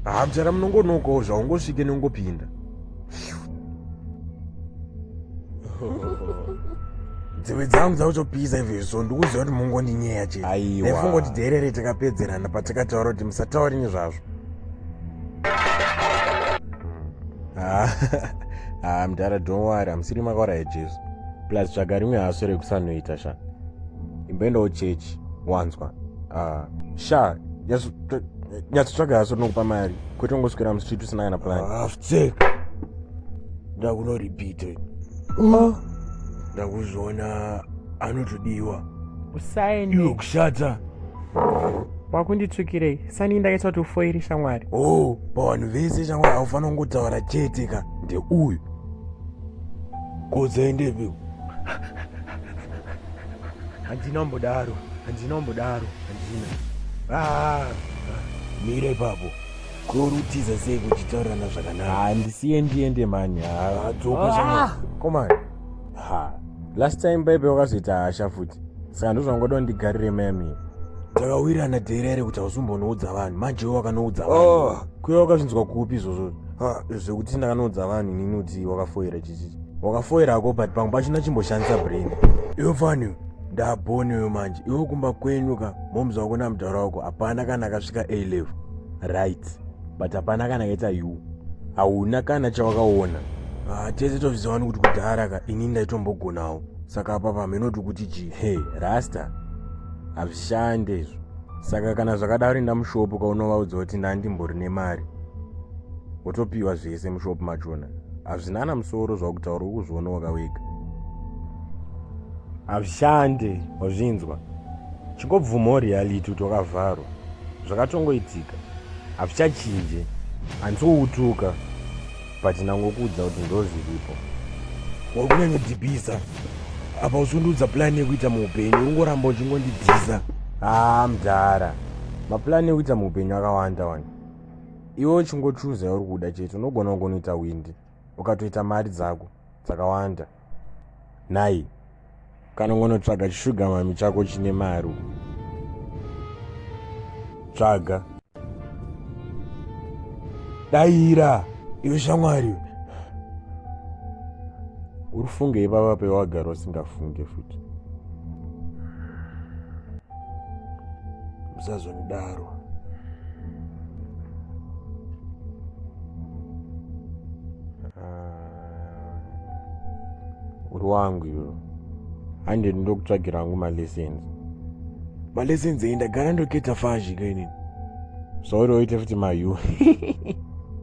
haa mchara munongonokawo zvaungosvike neungopinda dzeve dzangu dzakutopisa izvezvi so ndikuziva kuti mungondinyeya chete aifunga kuti dherere takapedzerana patakataura kuti musatauri nezvazvo haa ah, mdara don't worry amusiri makaura yajesu plus tsvaga rimwe haso rekusanoita sha imboendawo chechi wanzwa ah, sha nyatsotsvaga haso tinokupa mari kwete ungoswera musviti usina kana plan aftek ah, ndakunoripite ah. ndakuzviona anotodiwa usaende iwe kushata wakunditsukirei sani ndakaita kuti ufoiri shamwari o oh, pavanhu vese shamwari aufanira kungotaura chete ka ndeuyu kodzaendepi Handina umbodaro, handina umbodaro, handina. Ah, ah, mira ipapo. Korutiza sei kuchitaurirana zvakanaka? Handisiye ndiende mani. Ah, dzoka zvamwe. Komani. Ha. Last time baibe wakazoita hasha futi. Saka ndozvangoda ndigarire mami. Takawirana dera ere kuti hausumbonoudza vanhu. Manje wakanoudza vanhu. Oh, kuya wakazvinzwa kupi izvozvo? Ah, zvekuti ndakanoudza vanhu inini kuti wakafoira chichi. wakafoira hako but pamwe pachina chimboshandisa brain iwe fani ndaboni uyo manje iwe kumba kwenyu ka momzi wako namutaura wako hapana kana akasvika a level right but hapana kana akaita u hauna kana chawakaona ah, tese tozvizawani kuti kudhara ka ini ndaitombogonawo saka apa pamenoti kuti chii he rasta hazvishande izvo saka kana zvakadaro enda mushopu kaunovaudza kuti ndandimbori nemari wotopiwa zvese mushopu machona hazvina ana musoro zvakutaura uri kuzviona wakawega hazvishande wazvinzwa chingobvumawo reality kuti wakavharwa zvakatongoitika hazvichachinje handisi kukutuka but ndangokuudza kuti ndozviripo uri kunyanyodhibhisa apa usundiudza pulani yekuita muupenyu ungoramba uchingondidhisa haa mdhara mapulani yekuita muupenyu akawanda wani iwe uchingochuza yauri kuda chete unogona kungonoita windi ukatoita mari dzako dzakawanda nhai kana ungonotsvaga chishugamami chako chine mari tsvaga daira iwe shamwari uri funge ipapa pewagara usingafunge futi musazondidaro ah, uri wangu iyo hande ndokutsvagira hangu malessons malessons eyi ndagara ndoketa fazhi kainini sorry oite futi mayu